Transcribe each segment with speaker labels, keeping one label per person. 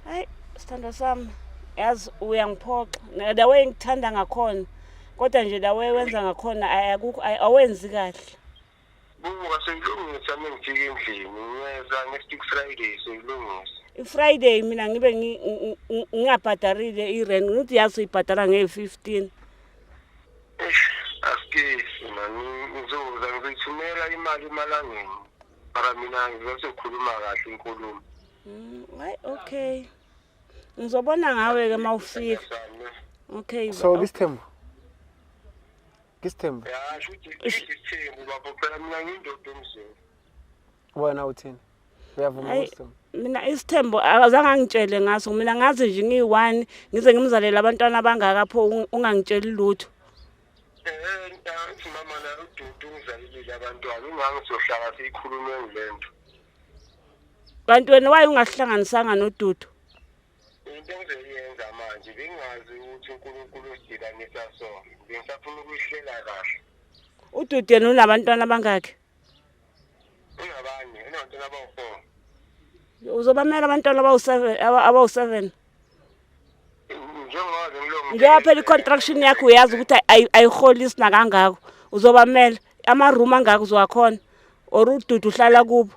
Speaker 1: hayi sithandwa sami yazi uyangiphoxa the way ngithanda ngakhona kodwa nje la way wenza ngakhona awenzi kahle buka
Speaker 2: seyilungisa uma ngifika endlini ngiyeza nge-six friday seyilungisa i-friday mina
Speaker 1: ngibe ngingabhadarile i-rent ngithi yazi uyibhadala ngeye-fifteen
Speaker 2: asikesi mani ngizoza ngizithumela imali emalangeni mara mina ngizothi ukhuluma kahle
Speaker 1: inkulumo Mm, Hayi okay. Ngizobona ngawe ke mawufika. Sami. Okay. ba- so kisithembu kisithembu ya
Speaker 3: shuthi isithembu
Speaker 2: bafo phela mina ngindoda emzini wena
Speaker 3: uthini uyavuma Hayi. ukuthi mina isithembu
Speaker 1: azange angitshele ngaso mina ngazi nje ngiyi-one ngize ngimzalele abantwana abangaka pho ung- ungangitsheli lutho
Speaker 2: ntangithi mama la ududu ungizalelile abantwana ingange siyohlala siyikhulume ngile nto
Speaker 1: kanti wena waye ungahlanganisanga nodudu into
Speaker 2: engizoyenza manje bengazi ukuthi unkulunkulu usidibanisa sona bengisafuna ukuyihlela kahle ududu
Speaker 1: yena unabantwana abangakhi
Speaker 2: Ingabanye, inabantwana abawu-four.
Speaker 1: Uzobamela abantwana abawu-seven, aba- abawu-seven. Njengoba
Speaker 2: waze ngilonge- Ngiyaphela i-construction
Speaker 1: yakho uyazi ukuthi ayi- ayi- ayiholisi nakangako. Uzobamela ama-room angako uzowakhona or ududu uhlala kubo.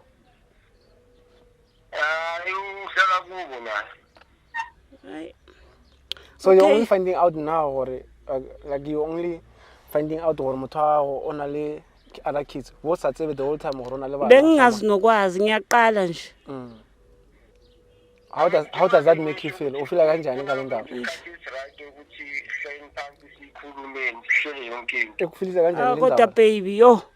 Speaker 2: Hayi uhlala kubo la.
Speaker 1: Hayi.
Speaker 3: So okay. you're only finding out
Speaker 1: now
Speaker 3: or uh, like you only finding out gore motho wa gago o na le other kids bo sa tsebe the whole time gore o na le bana bengingazi nokwazi
Speaker 1: ngiyaqala nje mm.
Speaker 3: how does, how does that make you feel ufila kanjani ngale ndaba
Speaker 2: ekuphilisa kanjani ah, kodwa
Speaker 3: baby yo